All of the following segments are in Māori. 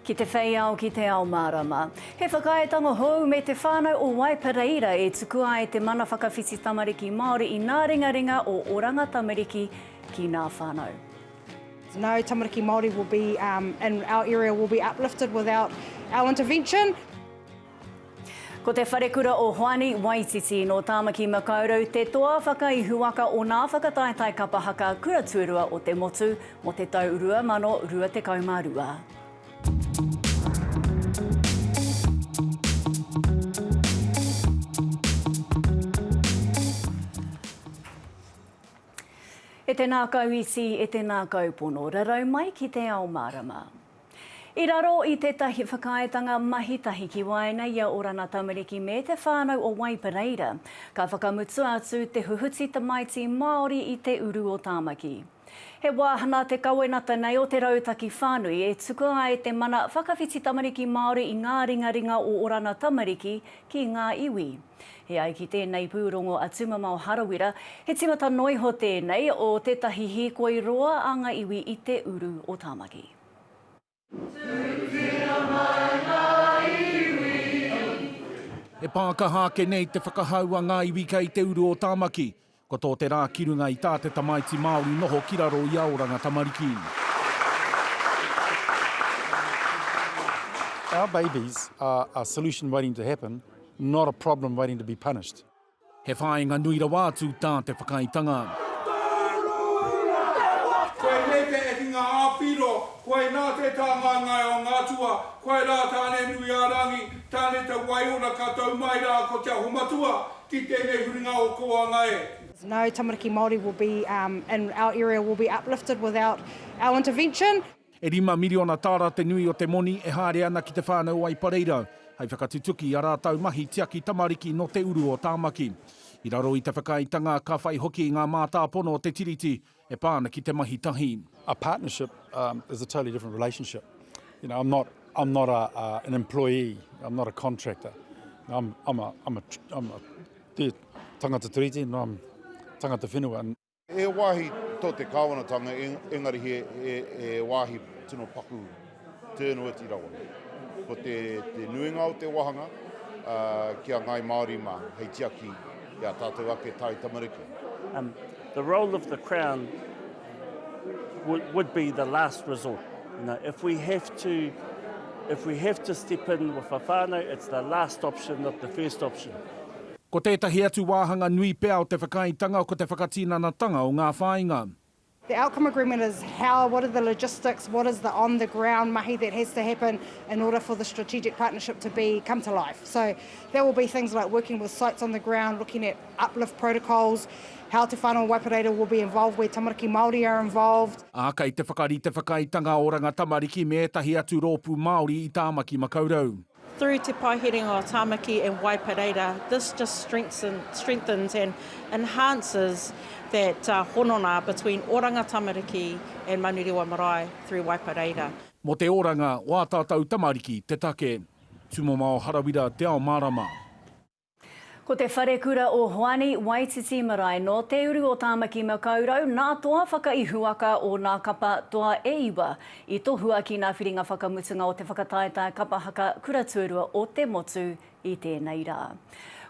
Ki te whei ao, ki te ao mārama. He whakaaetanga hou me Te Whānau o Waipareira e tukua ai te mana whakawhiti tamariki Māori i ngā ringaringa o Oranga Tamariki ki nā whānau. No tamariki Māori will be in our area will be uplifted without our intervention. Ko te Wharekura o Hoani Waititi nō Tāmaki Makaurau te toa whakaihuwaka o nā whakataetae kapa haka kura tuarua o te motu mō te tau 2022. E tēnā kau iti, e tēnā kau pono, rarau mai ki te ao mārama. I raro i tētahi whakaaetanga mahi tahi ki waenga i a Orana Tamariki me Te Whānau o Waipareira, ka whakamutu atu te huhuti tamaiti Māori i te uru o Tāmaki. He wāhanga te kawenata nei o te rautaki whānui e tukua ai te mana whakawhiti tamariki Māori i ngā ringaringa o Orana Tamariki ki ngā iwi. E ai ki tēnei pūrongo a Tumamao Harawira, he tīmata noa iho tēnei o tētahi hīkoi roa a ngā iwi i te uru o Tāmaki. He pākaha ake nei te whakahau a ngā iwi kei te uru o Tāmaki. Ko tō te rā ki runga i tā te tamaiti Māori noho ki raro i a oranga tamariki. Our babies are a solution waiting to happen, not a problem waiting to be punished. He whāinga nui rawa atu tā te whakaaetanga. Koe nei te ekinga ā-piro, koe nā te tāngaengae o ngā atua, koe rā Tāne-nui-ā-rangi, Tāne-te-wai-ora ka tau mai rā ko Te Aho-matua, ki tēnei huringa o Kōanga e. No tamariki Māori will be in our area will be uplifted without our intervention. E rima miriona tāra te nui o te moni e haere ana ki Te Whānau o Aipareira hei whakatutuki i a rātau mahi tiaki tamariki nō te uru o Tāmaki. I raro i te whakaaetanga ka whai hoki ngā mātāpono o te Tiriti e pā ana ki te mahi tahi. A partnership is a totally different relationship. You know, I'm not, I'm not a, a, an employee, I'm not a contractor. I'm, I'm a, I'm a, I'm a te tangata tiriti, no, I'm tangata whenua. He wāhi tō te kāwanatanga, engari he, he, he wāhi tino paku. Turnouti rawa. Ko te nuinga o te wahanga ki a Ngāi Māori mā hei tiaki i a tātou ake Tae Tamariki. The role of the Crown would be the last resort. If we have to if we have to step in with a whānau, it's the last option not the first option. Ko tētahi atu wāhanga nui pea o te whakaaetanga ko te whakatinanatanga o ngā whāinga. The outcome agreement is how, what are the logistics, what is the on the ground mahi that has to happen in order for the strategic partnership to be come to life. So that will be things like working with sites on the ground, looking at uplift protocols, how Te Whānau Waipa Reira will be involved where tamariki Māori are involved. Ā, kei te whakarite whakaaetanga Oranga Tamariki me ētahi atu rōpū Māori i Tāmaki Makaurau. Through Te Paeherenga o Tamaki and Waipareira, this just strengthens and enhances that hononga between Oranga Tamariki and Manurewa Marae through Waipareira. Mō te oranga o ā tātou tamariki te take Tūmamao Harawira Te Ao Mārama. Ko te Wharekura o Hoani, Waititi Marae, nō te uru o Tāmaki Makaurau, nā toa whakaihuwaka o nā kapa toa e iwa i tohua ki nā whiringa whakamutunga o te whakataetae kapa haka kura tuarua o te motu i tēnei rā.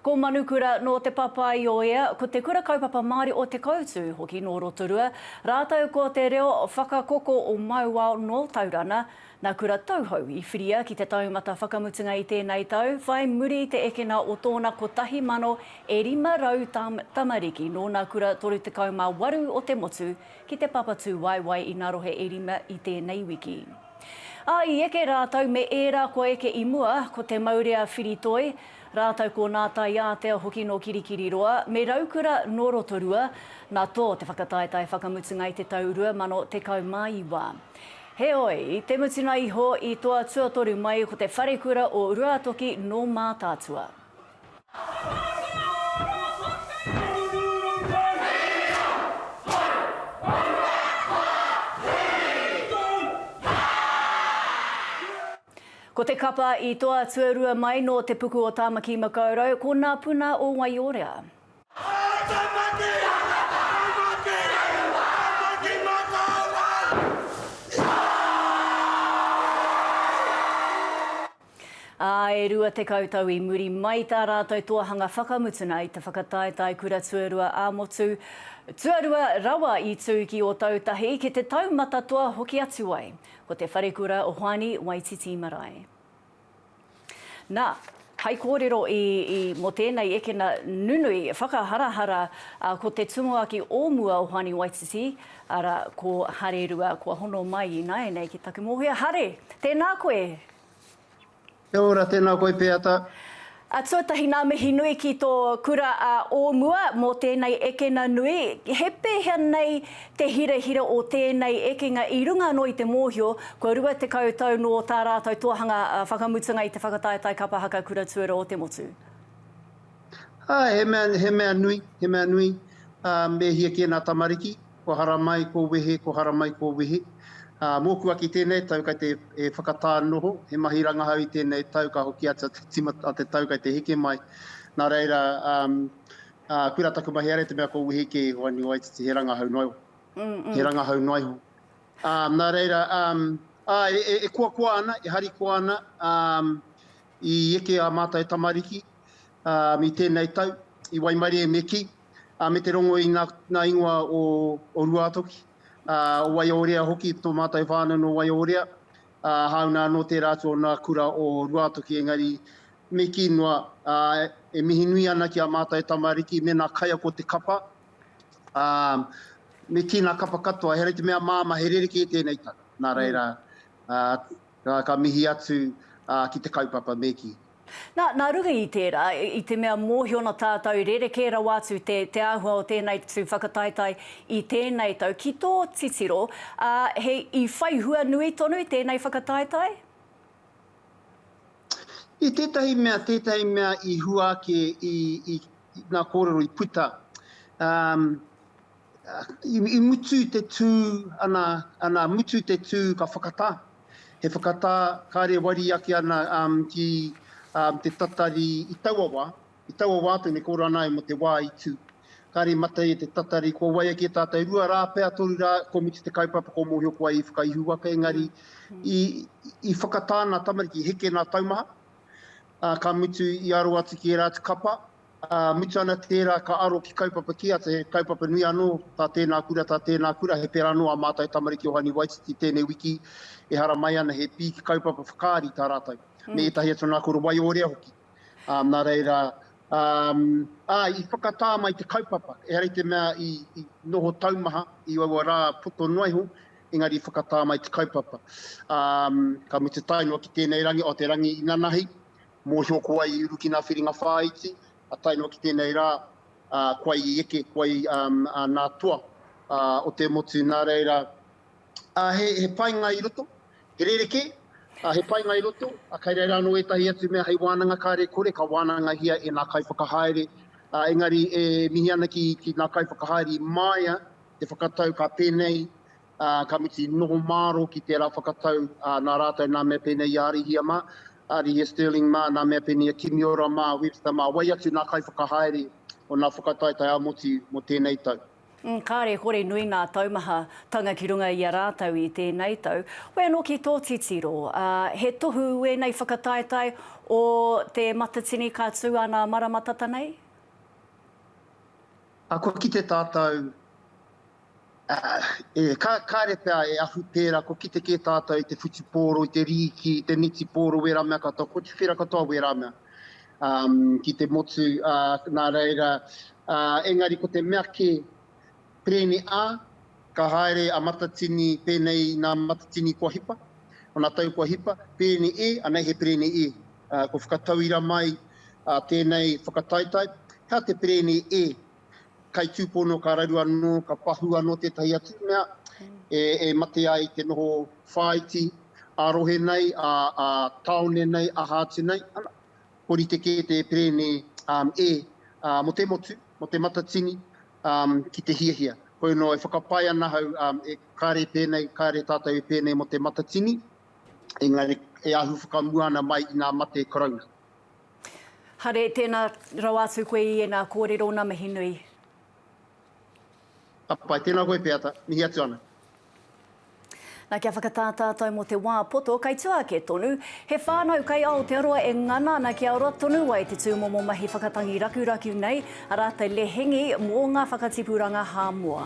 Ko Manukura nō Te Papaioea, ko Te Kura Kaupapa Māori o Te Koutu hoki nō Rotorua, rātou ko Te Reo Whakakoko o Mauao nō Taurana, Nā Kura Tauhou i whiria ki te taumata whakamutunga i tēnei tau, whai muri i te ekena o tōna 1,000 e 500 tam, tamariki nōna kura 38 o te motu ki te Papatūwaewae i ngā rohe e rima i tēnei wiki. Ā, i eke rātou me ērā kua eke i mua, ko Te Maurea Whiritoi, rātou ko Nā Taiātea hoki nō Kirikiriroa, me Raukura nō Rotorua, nā tō te whakataetae whakamutunga i te tau 2019. Heoi, i te mutunga iho, i toa tuatoru mai ko te wharekura o Ruatoki nō Mātaatua. Ko te kapa i toa tuarua mai nō Te Puku o Tāmaki-makau-rau, ko Nā Puna o Waiorea. Ā, e rua tekau tau i muri mai i tā rātou toahanga whakamutuna i te whakataetae kura tuarua ā-motu, tuarua rawa i tū ki Ōtautahi, ki te taumata toa hoki atu ai. Ko te wharekura o Hoani Waititi Marae. Nā, hai kōrero i, i, mō tēnei ekena nunui, whakaharahara, ā, ko te tumuaki o mua o Hoani Waititi, arā, ko Harerua, kua hono mai ināianei ki taku mōhio. Hare! Tēnā koe! Kia ora, tēnā koe Peata. A tuatahi ngā mihi nui ki tō kura a o mua mō tēnei ekena nui, he pēhea nei te hirahira o tēnei ekenga i runga anō i te mōhio kua 20 tau nō tā rātou tohanga whakamutunga i te whakataetae kapa haka kura tuarua o te motu? Āe, he mea, he mea nui, he mea nui, ā, me hia kē ngā tamariki. Kua haramai kua wehe, kua haramai kua wehe. Mōku aki tēnei tau kei te whakatā noho, he mahi rangahau i tēnei tau ka hoki atu a te tau kei te heke mai. Nā reira, koe rā taku mahi haere te mea kua wehe kē iho anio ai titi he rangahau noa iho, he rangahau noa iho. Nā reira, e koakoa ana, e harikoa ana i eke ā mātou tamariki i tēnei tau, i waimarie me kī. me te rongo i ngā ingoa o Ruātoki, o Waiōrea hoki, tō mātou whānau nō Waiōrea, hāunga anō tērā atu o ngā kura o Ruātoki, engari me kī noa, e mihi nui ana ki a mātou tamariki mēnā kaiako te kapa, me kī ngā kapa katoa, he rite mea māmā, he rerekē tēnei tau, nā reira, ka mihi atu ki te kaupapa, me kī. Na, nā runga i tērā, i te mea mōhio ana tātou rerekē rawa atu te, te āhua o tēnei tū whakataetae i tēnei tau, ki tō titiro, ā, he, i whai hua nui tonu tēnei whakataetae? I tētahi mea, tētahi mea i hua ake i, i, i ngā kōrero i puta, ā, I mutu te tū, ana, ana, mutu te tū ka whakatā. He whakatā kāre wari ake ana um, ki um, te tatari i taua wā, i taua wā tonu ko ora ana mo te wā i tū. Kāre mate te tatari, kua wai ake tātou rua rā, pea toru rā, kua mutu te kaupapa, kua mōhio ko ai i whakaihu ake, engari mm. i, i whakatā nā tamariki, heke nā taumaha, uh, ka mutu i aro atu ki ērā atu kapa, Ā, mutu ana tērā ka aro ki kaupapa kē atu, he kaupapa nui anō, tā tēnā kura, tā tēnā kura, he pērā anō ā mātou tamariki o Hani Waititi tēnei wiki, ehara mai ana he pīki kaupapa whakaari tā rātou, me ētahi atu anā kore waiorea hoki. Ā, nā reira, ā, ā, i whakatā mai te kaupapa, ehara i te mea i, i noho taumaha i aua rā poto noa iho, engari i whakatā mai te kaupapa. Ā, ka mutu tae noa ki tēnei rangi, o te rangi inanahi, Mōhio ko wai i uru ki ngā whiringa whāiti, tae noa ki tēnei rā, ko wai i eke, ko wai nā toa o te motu. Nā reira, he painga i roto, he rerekē, he painga i roto, kei reira anō ētahi atu mea hei wānanga kāre e kore, ka wānangahia e ngā kaiwhakahaere. Engari e mihi ana ki ngā kaiwhakahaere i māia te whakatau ka pēnei Ka mutu i noho māro ki tērā whakatau nā rātou, nā Mea pēnei i a Arihia mā, Arihia Stirling mā, nā Mea pēnei i a Kimiora mā, Webster mā, wai atu nā kaiwhakahaere o nā whakataetae ā-motu mō tēnei tau. Kāre kore nui ngā taumaha tanga ki runga i a rātou i tēnei tau. Hoi anō ki tō titiro, he tohu ēnei whakataetae o Te Matatini ka tū ana marama tata nei? Kua kite tātou Kāre pea e ahu pērā, kua kite kē tātou i te whutupōro, i te rīki, i te nitipōro, wērā mea katoa, kua tuwhera katoa wērā mea ki te motu, nā reira, engari ko te mea kē, pēnei ā, ka haere a Matatini, pēnei nā Matatini kua hipa, ōna tau kua hipa, pēnei ē, anei he pēnei ē, kua whakatauira mai tēnei whakataetae, he aha te pēnei ē? kai tūpono ka raru anō, ka pahū anō tētahi atu mea e, e mate ai te noho whāiti a rohe nei, a, a taone nei, aha atu nei, ana, ko rite kē te perēne um, e, uh, mo te motu, mo te matatini, um, ki te hiahia. Koe no e whakapae ana hau, um, e kare pēnei, kare tātou e pēnei mo te matatini, engari e ahu whakamua ana mai i ngā mate karauna. Hare, tēnā rawa atu koe i ēnā kōrero, ngā mihi nui. Ka pai, tēnā koe Peata, mihi atu ana. Na kia whakatā tātou mō te wā poto kei tua ake tonu. He whānau kei Aotearoa e ngana ana kia ora tonu ai te tūmomo mahi whakatangi rakuraku nei, a rātou lehengi mō ngā whakatipuranga Hāmoa.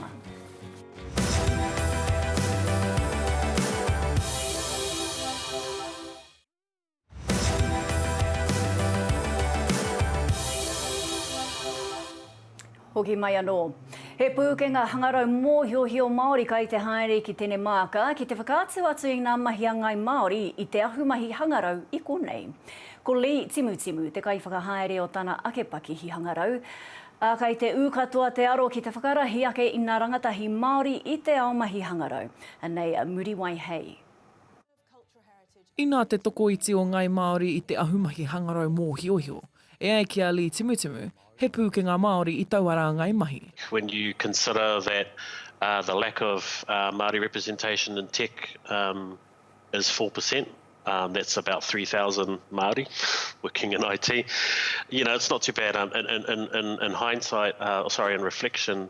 Hoki mai anō. He pūkenga hangarau mōhiohio Māori kai te haere ki Tenemāka ki te whakaatu atu i ngā mahi a Ngāi Māori i te ahumahi hangarau i konei. Ko Lee Timutimu te kaiwhakahaere o tana ake pakihi hangarau, ā, kai te ū katoa te aro ki te whakarahi ake i ngā rangatahi Māori i te ao mahi hangarau. Anei a Muriwai Hei. Inā te tokoiti o Ngai Māori i te ahumahi hangarau mōhiohio. E ai ki a Lee Timutimu, he pūkenga Māori i taua rāngai mahi. When you consider that the lack of Māori representation in tech is four per cent, that's about three thousand Māori working in IT, you know, it's not too bad in hindsight, sorry, in reflection.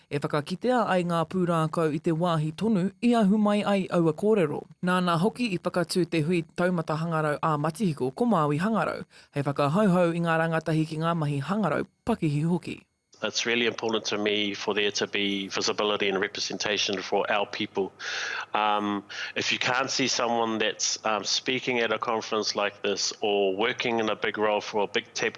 E whakakitea ai ngā pūrākau i te wāhi tonu i ahu mai ai aua kōrero. Nāna hoki i whakatū te hui Taumata Hangarau ā-Matihiko ko Māui Hangarau, hei whakahauhau i ngā rangatahi ki ngā mahi hangarau, pakihi hoki. It's really important to me for there to be visibility and representation for our people. Um, if you can't see someone that's um, speaking at a conference like this or working in a big role for a big tab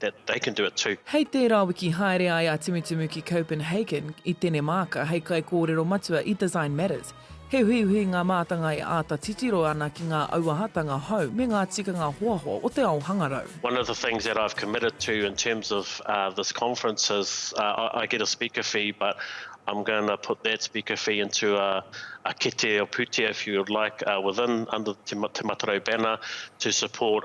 that they can do it too. Hei tērā wiki haere ai a Tumutumu ki Copenhagen i Tenemāka hei kaikōrero matua i Design Matters. He uhiuhi ngā mātanga e āta titiro ana ki ngā auahatanga hou me ngā tikanga hoahoa o te ao hangarau. One of the things that I've committed to in terms of this conference is I get a speaker fee but I'm going to put that speaker fee into a kete or pūtea if you would like within under Te Matarau banner to support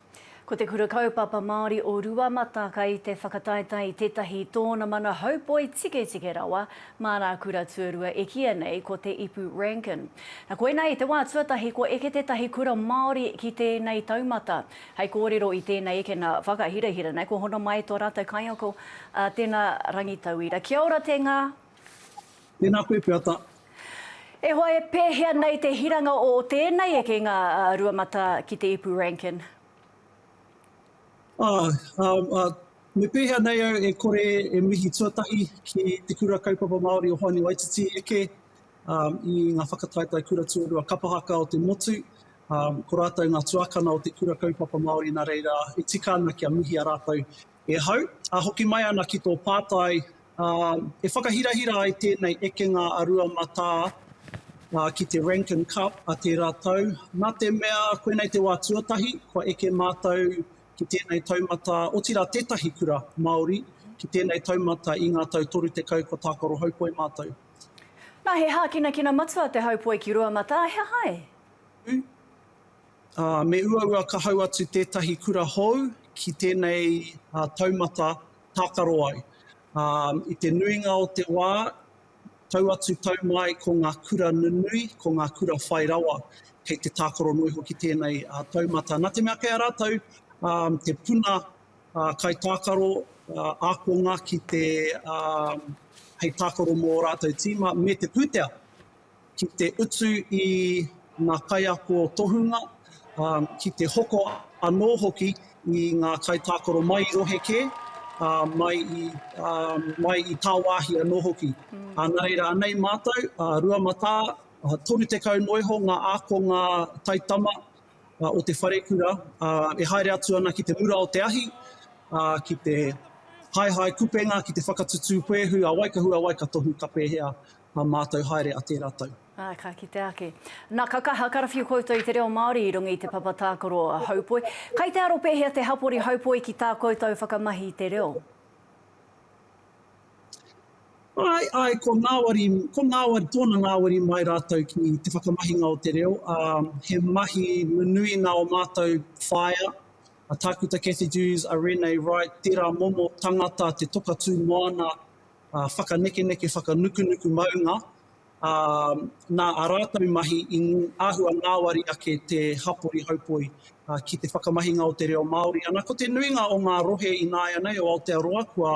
Ko te Kura Kaupapa Māori o Ruamata kei te whakataetae i tētahi tōna mana haupoi tiketike rawa mā rā kura tuarua e kīia nei ko Te Ipu Rankin. Na koinā i te wā tuatahi kua eke tētahi kura Māori ki tēnei taumata. Hei kōrero i tēnei ekena whakahirahira nei kua hono mai tō rātou kaiako a Tena Rangitauira. Kia ora Te Nga! Tēnā koe Peata. E hoa e pēhea nei te hiranga o tēnei ekenga a Ruamata ki te ipu Rankin? Ah, um, uh, me pēhea nei au e kore e mihi tuatahi ki Te Kura Kaupapa Māori o Hoani Waititi eke um, i ngā whakataetae kura tuarua kapahaka o te motu, um, ko rātou ngā tuakana o Te Kura Kaupapa Māori nā reira e tika ana kia mihia rātou e hau. A hoki mai ana ki tō pātai Ā, e whakahirahira ai tēnei ekenga a Rua Matā ki te Rankin Cup a tērā tau, nā te mea koinei te wā tuatahi kua eke mātou ki tēnei taumata, otirā tētahi kura Māori ki tēnei taumata i ngā tau 30 kua tākaro haupoi mātou. Nā, he hākinakina matua te haupoi ki Rua Matā, he aha e? Ū, ā, me uaua ka hau atu tētahi kura hou ki tēnei taumata tākaro ai. Ā, i te nuinga o te wā, tau atu tau mai ko ngā kura nunui, ko ngā kura whai rawa, kei te tākaro noa hoki tēnei taumata. Nā te mea kei a rātou te puna kaitākaro ākonga ki te hei tākaro mō ō rātou tīma me te pūtea. ki te utu i ngā kaiako tohunga, ā, ki te hoko anō hoki i ngā kaitākaro mai i rohe kē, ā, mai i, ā, mai i tāwāhi anō hoki. Ā, nā reira, anei mātou, ā, rua matā, ā, toru tekau noa iho ngā ākonga taitama, ā, o te wharekura, ā, e haere atu ana ki te mura o te ahi, ā, ki te haehae kupenga, ki te whakatutū puehu a Waikahu, a Waikatohu, ka pēhea, Ka mātau haere a tērā tau. Ā, ka kitea ake. Na, ka kaha karawhiu koutou i te reo Māori i runga i te papa tākaro Haupoi. Kai te aro pēhea te hapori Haupoi ki tā koutou whakamahi i te reo? Āe, āe, ko ngāwari, ko ngāwari, tōna ngāwari mai rātou ki te whakamahinga o te reo. Ā, he mahi nunui nā o mātou whaea, a Tākuta Cathy Dewes, a Renee Wright, tērā momo tangata te toka tū moana whakanekeneke, whakanukunuku maunga, ā, nā ā rātou mahi i āhua ngāwari ake te hapori haupoi ki te whakamahinga o te reo Māori. Ana, ko te nuinga o ngā rohe ināianei o Aotearoa kua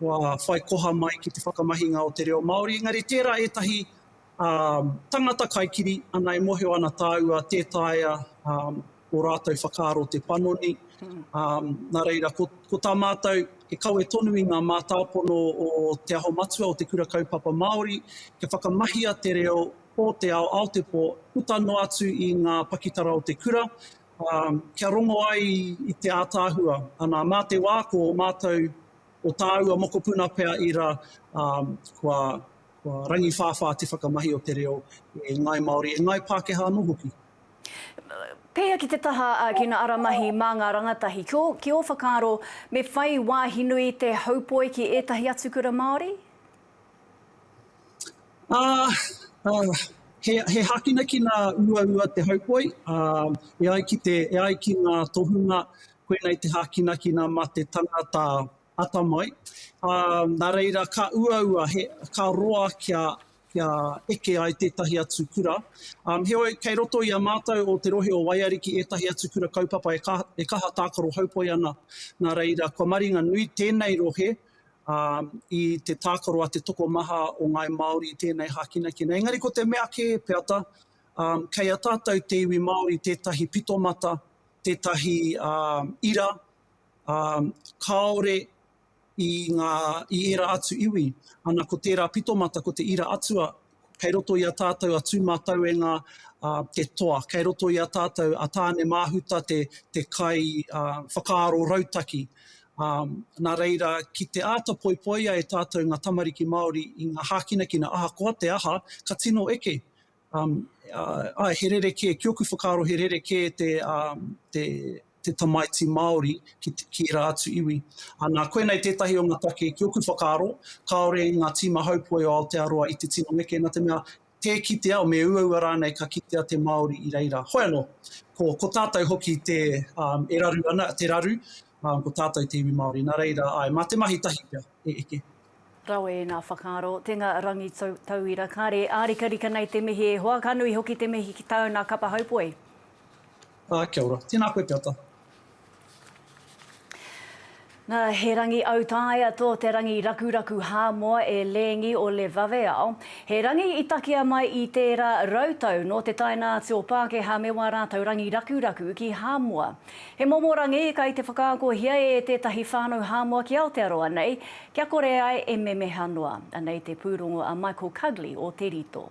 whai koha mai ki te whakamahinga o te reo Māori, engari tērā ētahi tangata kaikiri, ana, e mōhio ana tāua tē taea ō rātou whakaaro te panoni. Nā reira, ko, ko tā mātou, e kawe tonu i ngā mātāpono o Te Aho Matua, o Te Kura Kaupapa Māori, kia whakamahia te reo o te ao, ao te pō, puta noa atu i ngā pakitara o te kura, kia rongo ai i te ātaahua. Anā, mā te wā, ko ō mātou, o tāua mokopuna pea i ra, kua, kua rangiwhāwhā te whakamahi o te reo e Ngāi Māori, e Ngāi Pākehā anō hoki. Pēia ki te taha ki ngā ara mahi mā ngā rangatahi. Ki ō whakaaro, me whai wāhi nui te haupoi ki ētahi atu kura Māori? He hākinakina uaua te haupoi, e ai ki ngā tohunga, koinei te hākinakina mā te tangata atamai, ā, nā reira ka uaua he, ka roa kia, kia eke ai tētahi atu kura. Ā, heoi, kei roto i a mātou o te rohe o Waiariki ētahi atu kura kaupapa e ka, e kaha tākaro haupoi ana. Nā reira, kua maringa nui tēnei rohe, ā, i te tākaro a te tokomaha o Ngāi Māori i tēnei hākinakina. Engari ko te mea kē, Peata, ā, kei a tātou te iwi Māori tētahi pitomata, tētahi, ā, ira, kāore i ngā, i ērā atu iwi, ana ko tērā pitomata ko te ira atua, kei roto i a tātou a Tūmatauenga te toa, kei roto i a tātou a Tāne Māhuta te te kai whakaaro rautaki. Nā reira, ki te āta poipoia e tātou ngā tamariki Māori i ngā hākinakina ahakoa te aha, ka tino eke, Ae, he rerekē, ki oku whakaaro he rerekē te tamaiti Māori ki ērā atu iwi. Nā, koinei tētahi o ngā take ki oku whakaaro, kāore i ngā tīma haupoi o Aotearoa i te tino neke, nā te mea, tē kitea, me uaua rānei ka kitea te Māori i reira. Hoi anō, ko tātou hoki e raru ana, te raru, ko tātou te iwi Māori, nā reira, ae, mā te mahi tahi pea e eke. Rawe i ngā whakaaro. Te nga Rangi Tauira, kare ārikarika nei te mihi e hoa, ka nui hoki te mihi ki tāu nā Kapa Haupoe. Ā, kia ora. Tēnā koe te ata. Na, he rangi autaia tō te rangi rakuraku hāmoa e Lēngi o Le Vaveao. He rangi i takea mai i tērā rautau nō te taenā atu o Pākehā me wā rātau rangi rakuraku ki Hāmoa. He momo rangi kai te whakaakohia e tētahi whānau Hāmoa ki Aotearoa nei, kia kore ai e memeha noa. Anei te pūrongo a Michael Cugley o Te Rito.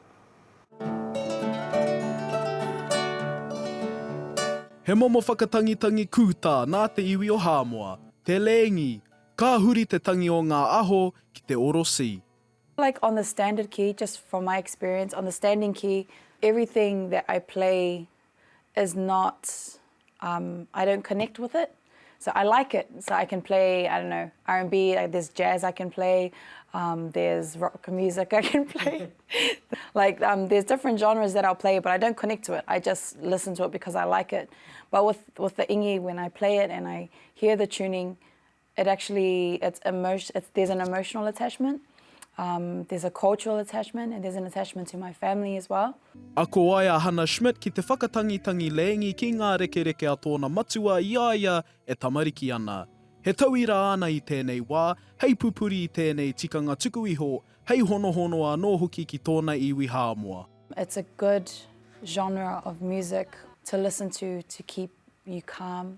He momo whakatangitangi kūtā nā te iwi o Hāmoa, te lēngi, ka huri te tangi o ngā aho ki te oro si. Like on the standard key, just from my experience, on the standing key, everything that I play is not um I don't connect with it so I like it so I can play I don't know R&B there's jazz I can play um there's rock music I can play like um there's different genres that I'll play but I don't connect to it I just listen to it because I like it but with with the ingi when I play it and I hear the tuning It actually, it's emotion, it's, there's an emotional attachment, um, there's a cultural attachment, and there's an attachment to my family as well. Ako ai a Hannah Schmidt ki te whakatangitangi lēngi ki ngā rekereke a tōna matua i a ia e tamariki ana. He tauira āna i tēnei wā, hei pupuri i tēnei tikanga tuku iho, hei honohono anō hoki ki tōna iwi Hāmoa. It's a good genre of music to listen to to keep you calm.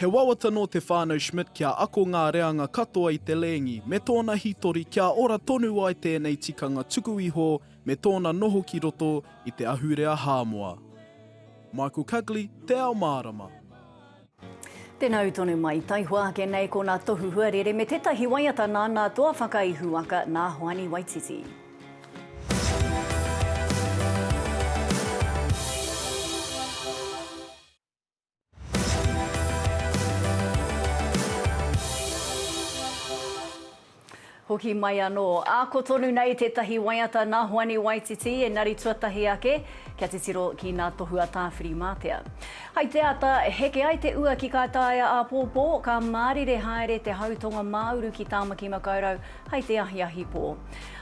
He wawata nō te whānau Schmidt kia ako ngā reanga katoa i te lēngi me tōna hītori kia ora tonu ai tēnei tikanga tuku iho me tōna noho ki roto i te ahurea Hāmoa. Michael Cugley, Te Ao Mārama. Tēnā ū tonu mai. Taihoa ake nei ko nā Tohu Huarere me tētahi waiata nā nā Toa Whakaihuwaka, nā Hoani Waititi. Hoki mai anō. Ako tonu nei tētahi waiata nā Hoani Waititi, engari tuatahi ake, kia titiro ki nā Tohua Tāwhiri-mātea. Hai te ata, heke ai te ua ki kā taea āpōpō, ka mārire haere te hau tonga māuru ki Tāmaki Makaurau hai te ahiahi pō.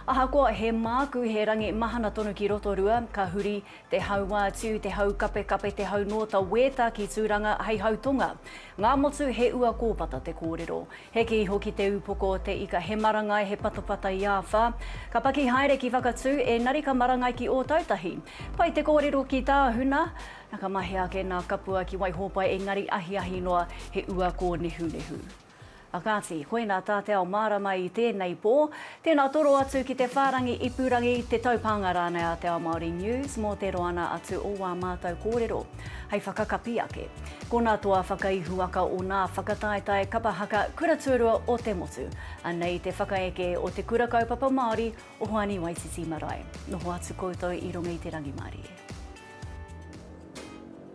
Ahakoa he māku he rangi mahana tonu ki Rotorua, ka huri, Te haua atu, te haukapekape, te haunōta wēta ki Tūranga hei hautonga. Ngā motu he ua kōpata te kōrero. Heke iho ki te ūpoko o te ika he marangai he patapata i āwhā. Ka paki haere ki Whakatū ēnari ka marangai ki Ōtautahi. Pai te kōrero ki Tāhuna, na ka mahea ake nā Kapua ki Waihōpai ēngari ahiahi noa he ua kōnehunehu. A kāti, koina tā te ao mārama i tēnei pō. Tēnā toro atu ki te whārangi ipurangi, te taupānga rānei a Te Ao Māori News mō te roana atu o wā mātou kōrero hei whakakapi ake. Ko nā toa whakaihuwaka o nā whakataetae kapa haka Kura Tuarua o te Motu, anei te whakaeke o Te Kura Kaupapa Māori o Hoani Waititi Marae. Noho atu koutou i runga i te rangimārie.